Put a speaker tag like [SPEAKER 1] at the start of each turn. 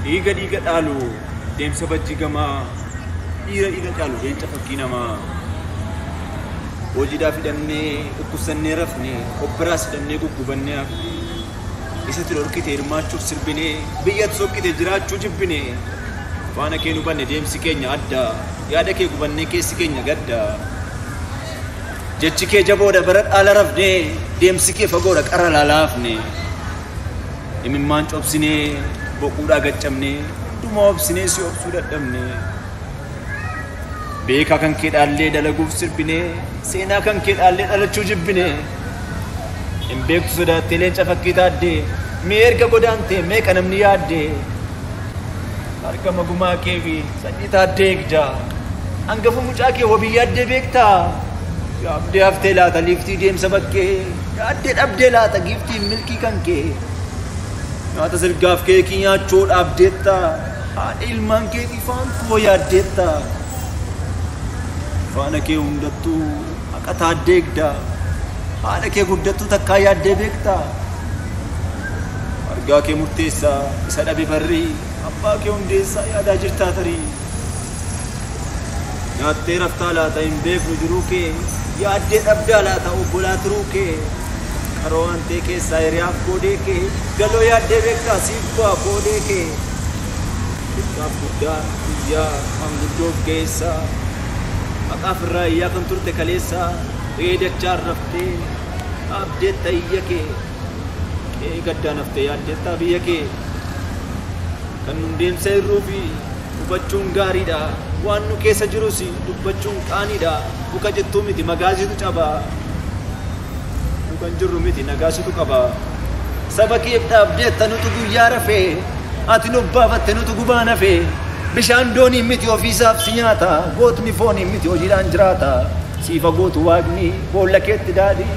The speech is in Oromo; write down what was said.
[SPEAKER 1] Dhiiga dhiiga dhaalu deemsa bajjii gamaa dhiira dhiiga caalu leenca fakkii namaa. Hojiidhaaf hidhamnee dhukkubsannee rafne obbiraas hidhamnee guggubannee hafne. Isatti dhorkite hirmaachuuf sirbinee biyyatti sokkite jiraachuu jibbine. Faana kee hubanne deemsi keenya adda yaada kee gubannee keessi keenya gadda. Jechi kee jaboodha bara dhaala rafnee deemsi kee fagoodha qara laalaafne. Imimmaan cobsinee boquudhaa gaccabnee hunduma obsinee si obsuu dadhabne. Beekaa kan kee dhaallee dalaguuf sirbinee seenaa kan kee dhaallee dhalachuu jibbine. Hin beektu sodaattee leenca fakkii taaddee mee erga godaantee meeqa namni yaaddee. Argama gumaa kee fi Sanyii taaddee egdaa. Angafa mucaa kee wabii yaaddee beektaa? Yaabdee haftee laata liiftii deemsa bakkee? Yaaddee dhabdee laata giiftiin milkii kan kee? Nyaata silgaaf keekii nyaachoo dhaabdeetta. Haadha ilmaan keetii faan koo yaaddeetta. Faana kee hundattuu haqa taaddee egdaa. Haadha kee guddattuu takkaa yaaddee beektaa? Argaa kee murteessaa isa dhabe barrii. Abbaa kee Hundeessaa yaadaa jirtaa tarii? Nyaattee raftaa laata hin beeknu jiruu kee? Yaaddee dhabdaa laata obbolaa tiruu kee? Qaroo aantee keessaa hiriyaaf koodee kee? Galoo yaaddee beektaa siif bu'aa koodee kee? Xiqqaaf guddaa iyyaa maanguddoof geessaa Haqaaf irraa iyyaa kan turte kaleessaa Re'ee dachaan raftee dhaabdeetta iyya kee qe'ee gaddaan hafte yaaddeettaa biyya kee kan nun deemsa hir'uu fi hubachuun gaariidha waan nu keessa jirus dubbachuun qaaniidha muka cittuu miti magaasitu caba nu kan jirru miti nagaasitu qaba saba keef dhaabdeetta nutu guyyaa rafee ati nu baafatte nutu gubaan hafee bishaan dooniin miti ofiisaaf si nyaata gootni fooniin miti hojiidhaan jiraata siifa gootu waaqni boolla keetti daadhii